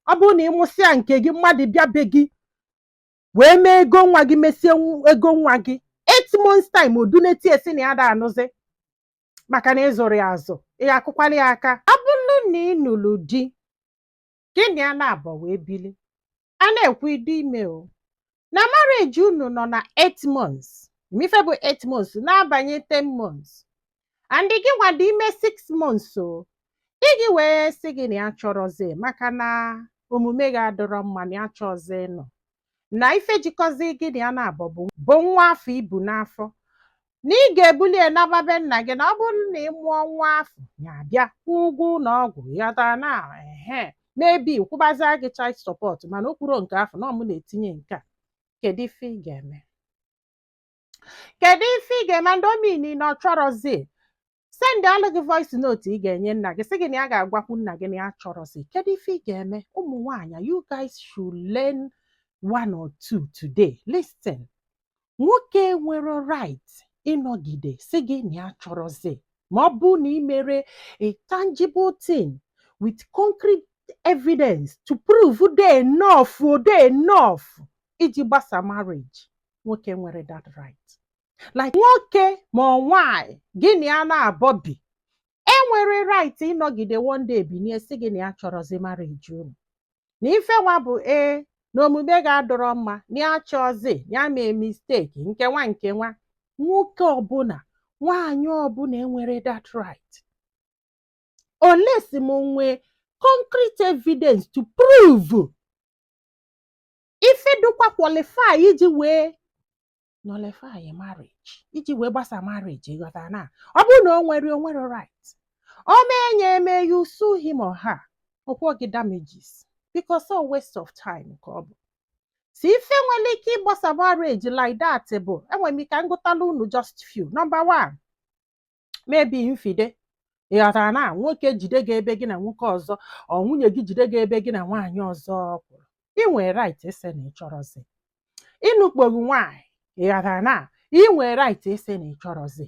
ọ bụrụ na ị mụsịa nke gị mmadụ bịa be gị wee mee ego nwa gị mesie nw- ego nwa gị eight months time o dunata ya sị na ya ada anụzi maka na ị zụrọ ya azụ ị ya-akụkwalụ ya aka ọ bụrụ na ị nụrụ di gị na ya naabọ wee bili a na-ekwu ị dị ime o na marriage unu nọ na 8 months ị ma ife bụ 8 months na-abanye 10 months and gị nwa dị ime 6 months o di gị wee sị gị na ya achọrọzi maka na omume gị adịrọ mma na ya achọzi nọ na ife jikọzi gị na ya naabọ bụ nwa afọ i bu n'afọ na ị ga-ebuli ya naba be nna gị na ọ bụrụ na ị mụọ nwa afọ ya abịa kwụọ ụgwọ ụlọ ọgwụ ị ghọtana ehe maybe kwụbazie gị child support mana o kwuro nke afọ na ọ mụ na-etinye nke a kedu ife ị ga-eme kedu ife ị ga-eme and o mean na ọ chọrọzi sendalụ gị voice note ị ga-enye nna gị sị gị na ya ga-agwakwu nna gị na ya achọrọzi kedu ife ị ga-eme ụmụ nwaanyị you guys should learn one or two today listen nwoke enwerọ right ịnọgide sị gị na ya achọrọzi ma ọ bụ na ị merọ a tangible thing with concrete evidence to prove dị enough ọ dị enough iji gbasa marriage nwoke enwerọ that right like nwoke ma ọ nwaanyị gị na ya naabọ bi enwerọ right ịnọgide one day binie sị gị na ya achọrọzi marriage unu na ife nwa bụ ee na omume gị adịrọ mma na ya achọzi na ya mee mistake nke nwa nke nwa nwoke ọbụna nwaanyị ọbụna enwerọ that right unless m nwee concrete evidence to prove ife dịkwa qualify iji wee nullify marriage iji wee gbasa marriage ị ghọtana ọ bụrụ na o nwerọ o nwerọ right o mee nye eme you sue him or her ọ kwụọ gị damages because ọ waste of time ka ọ bụ si ife nwere ike ịgbasa marriage like that bụ enwere m ike m gụtala unu just few number one maybe infide- ị ghọtana nwoke jide gị ebe gị na nwoke ọzọ or nwunye gị jide gị ebe gị na nwaanyị ọzọ kwụrụ ị nwere right ịsị na ị chọrọzi ịnụkpo gị nwaanyị ị ghọtana ị nwere right ịsị na ị chọrọzi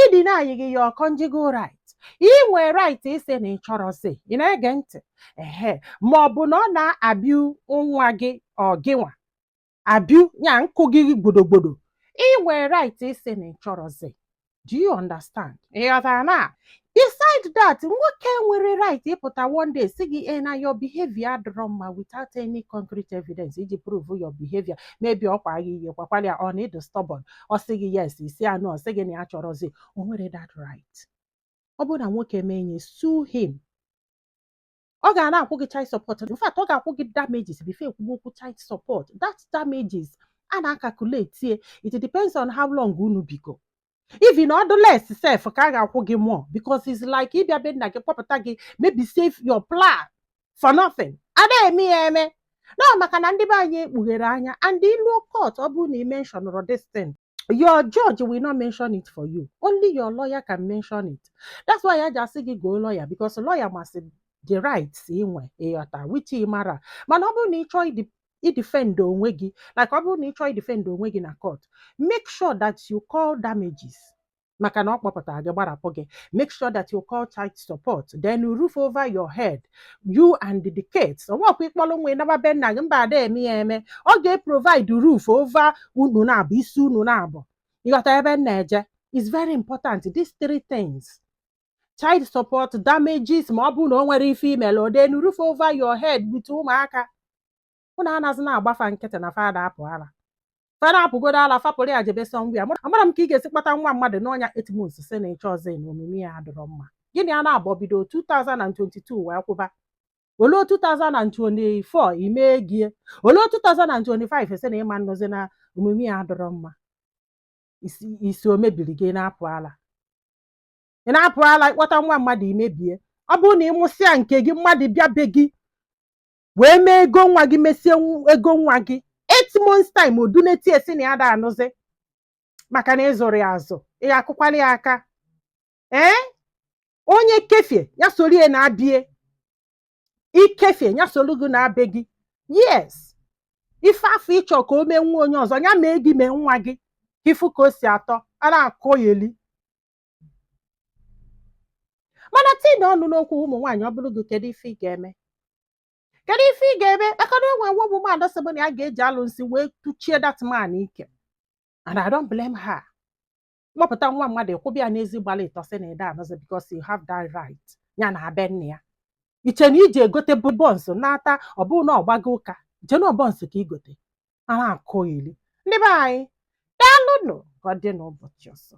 ịdeny gị your conjugal right ị nwere right ịsị na ị chọrọzi ị na-ege ntị ehe ma ọ bụ na ọ na-abịu nwa gị or gịnwa abiu ya nkụ gị gbodogbodo ị nwere right ịsị na ị chọrọzi do you understand ị ghọtana beside that nwoke enwerọ right ịpụta one day sị gị ee na your behavior adịrọ mma without any concrete evidence iji prove your behavior maybe ọ gwa gị ihe ị gwakwara ya or na ị dị stubborn ọ sị gị yes ị sị ya no ọ sị gị na ya achọrọzi o nwerọ that right ọ bụrụ na nwoke mee nye sue him ọ ga na-akwụ gị child support in fact ọ ga-akwụ gị damages before e kwube okwu child support that damages a na-acalculate it depends on how long unu bigo even ọ dị less sef ka a ga-akwụ gị more because it's like ịbịa be nna gị kpọpụta gị mebisịa ife you plan for nothing ada eme ya eme no maka na ndị be anyị ekpughere anya and i luo court ọ bụrụ na ị mentionrọ this thing your judge will not mention it for you only your lawyer can mention it that's why ya ji asị gị goo lawyer because lawyer masị the rights i nwe ị ghọta which ị mara mana ọ bụrụ na ị chọọ idi idefend onwe gị like ọ bụrụ na ị chọọ idefend onwe gị na court make sure that you call damages maka na ọ kpọpụtara gị gbarapụ gị make sure that you call child support then you roof over your head you and the kids ọ bụkwa ị kpọrọ nwa ị naba be nna gị mba ada eme ya eme ọ ga-eprovide roof over unu naabọ isi unu naabọ ị ghọta ebe m na-eje it's very important these three things child support damages ma ọ bụrụ na o nwere ife mere then roof over your head with ụmụaka ụnụ anazi na-agba fa nkịtị na fa da apụ ala fa na-apụgodo ala fa pụrụ ya jebe somewhere amarọ m ka ị ga-esi kpọta nwa mmadụ n'ọnwa eight months sị na ị chọrọzi na omume ya adịrọ mma gị na ya naabọ bido 2022 wee kwụba o lue 2024 imee gie o lue 2025 sị na ị ma anọzi na omume ya adịrọ mma isi o mebiri gị na-apụ ala ị na-apụ ala ị kpọta nwa mmadụ i mebie ọ bụrụ na ị mụsịa nke gị mmadụ bịa be gị wee mee ego nwa gị mesie nw- ego nwa gị eight months time o dunete ya sị na ya da anụzi maka na ị zụrọ ya azụ ị ga-akụkwara ya aka ee onye kefie ya soro ya naa be ya i kefie ya soro gị naa be gị yes ife afụ ị chọ ka o mee nwa onye ọzọ ya mee gị mee nwa gị ka ị fụ ka o si atọ a na-akọyeli mana tinye ọnụ n'okwu ụmụ nwaanyị ọ bụrụ gị kedu ife ị ga-eme kedu ife ị ga-eme maka na e nwe one woman sịbụ na ya ga-eji alụ nsị wee tụchie that man ike and I don't blame her kpọpụta nwa mmadụ kwụba ya n'ezi gba alọ ịtọ sị na ị da anọzi because you have that right ya naa be nna ya i che na i jee gote buns na-ata ọ bụrụ na ọ gbago ụka i che na buns ka i gote a na-akọyeli ndị be anyị daalụnụ ka ọ dị n'ụbọchị ọzọ